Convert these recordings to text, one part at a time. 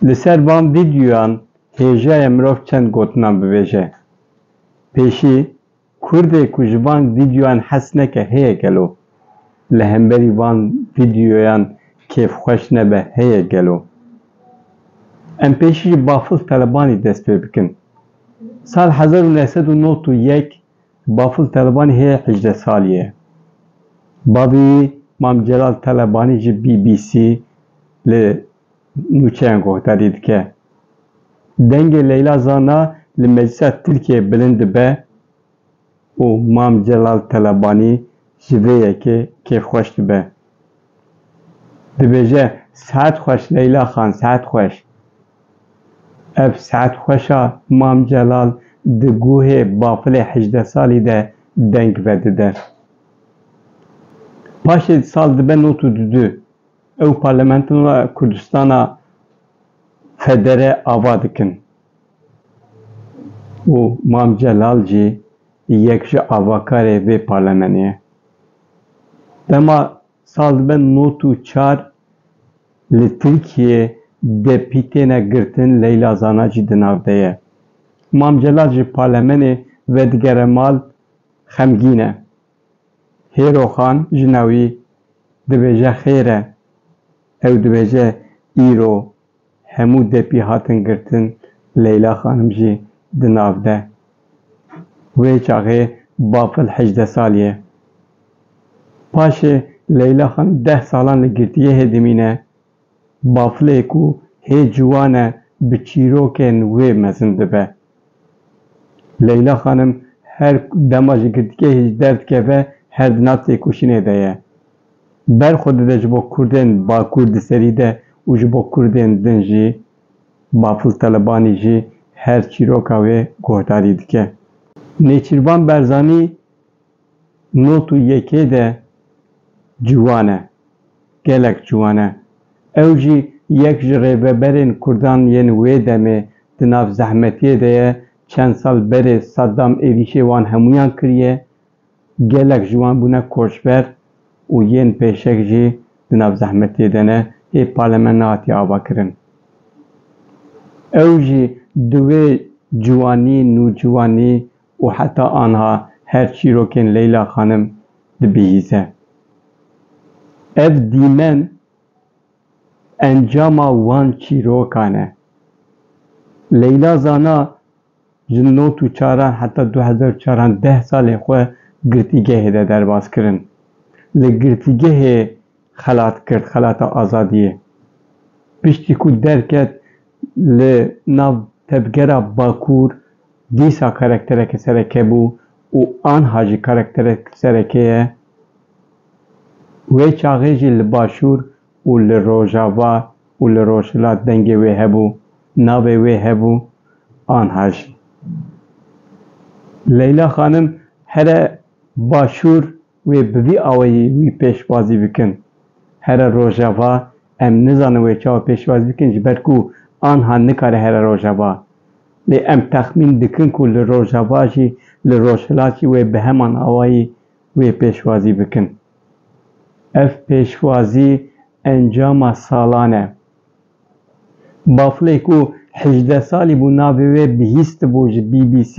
Li ser van vîdyoyan hêjaye mirov çend gotinan bivêje. Pêşî Kurdê ku ji van vîdyoyan hez neke heye gelo? Li hemberî van vîdyoyan kêfxweş nebe heye gelo? Em pêşî ji Bafil Telebanî dest pê bikin. Sal hezar û neh sed û nod û yek Bafil Telebanî hê hejdeh salî ye. Bavê wî Mam Celal Telebanî ji BBC li nûçeyan guhdarî dike. Dengê Leyla Zana li Meclisa Tirkiyeyê bilind dibe û Mam Celal Telebanî ji vê yekê kêfxweş dibe. Dibêje, Sehet xweş Leyla xan, sehet xweş. Ev sehet xweş a Mam Celal di guhê bafilê hejdeh salî de deng vedide. Paşê sal dibe nod û dudu ew Parlamentoya Kurdistana Federe ava dikin û Mam Celal jî yek ji avakarê vê parlemenê ye. Dema sal dibe nod û çar li Tirkiyê DP têne girtin Leyla Zana jî di nav de ye. Mam Celal ji palemenê vedigere mal xemgîn e. Hêroxan jina wî dibêje xêr e. Ew dibêje îro Hemû depî hatin girtin, Leyla xanim jî di nav de. Wê çaxê bafil hejdeh salî ye. Paşê Leyla xanim deh salan li girtîgehê dimîne, bafilê ku hê ciwan e bi çîrokên wê mezin dibe. Leyla xanim her dema ji girtîgehê jî derdikeve her di nav têkoşînê de ye. ber xwe dide ji bo kurdên bakur di serî de û ji bo kurdên din jî, Bafil Telebanî jî her çîroka wê guhdarî dike. Nêçîrvan Berzanî not û yekê de ciwan e, gelek ciwan e. Ew jî yek ji rêveberên kurdan yên wê demê di nav zehmetiyê de ye, çend sal berê Saddam êrîşê wan hemûyan kiriye, Gelek ji wan bûne koçber û yên pêşek jî di nav zehmetê de ne, hê pale me nehatiye avakirin. Ew jî di wê ciwanî, nûciwanî û heta anha her çîrokên Leyla Xanim dibihîze. Ev dîmen encama wan çîrokan e. Leyla zana Jin not û çaran heta du hezar û çar an deh salên xwe girtîgehê de derbas kirin. Li girtîgehê xelat kir xelata azadiyê. Piştî ku derket li nav tevgera Bakur dîsa karaktereke sereke bû û anha jî karakterek sereke ye. Wê çaxê jî li Başûr û li Rojava û li Rojhilat dengê wê hebû, navê wê hebû anha jî. Leyla xanim here Başûr wê bi vî awayî wî pêşwazî bikin. Here Rojava em nizanin wê çawa pêşwazî bikin ji ber ku anha nikare here Rojava. Lê em texmîn dikin ku li Rojava jî li Rojhilat jî wê bi heman awayî wê pêşwazî bikin. Ev pêşwazî encama salan e. Baflê ku hejdeh salî bû navê wê bihîstibû ji BBC,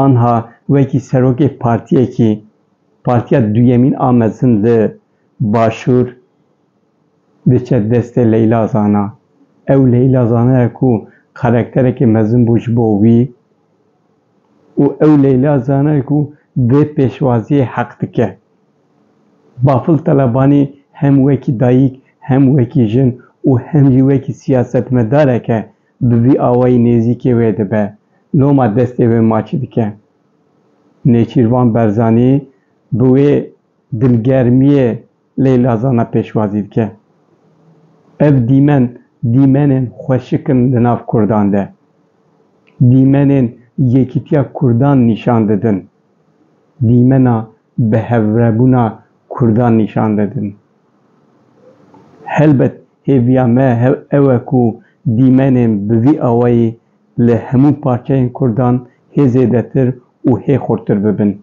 anha wekî serokê partiyekî, partiya duyemîn a mezin li Başûr diçe destê Leyla Zana. Ew Leyla Zana ye ku karakterekî mezin bû ji bo wî. Û ew Leyla zana ku vê pêşwaziyê heq dike. Bafil Talebanî hem wekî dayîk, hem wekî jin û hem jî wekî siyasetmedareke bi vî awayî nêzîkê wê dibe, loma destê wê maçî dike. Nêçîrvan Berzanî bi wê dilgermiyê, Leyla Zana pêşwazî dike, Ev dîmen dîmenên xweşik in li nav kurdan de. Dîmenên yekîtiya kurdan nîşan didin. Dîmena bihevrebûna kurdan nîşan didin. Helbet hêviya me ew e ku dîmenên bi vî awayî li hemû parçeyên kurdan hê zêdetir û hê xurtir bibin.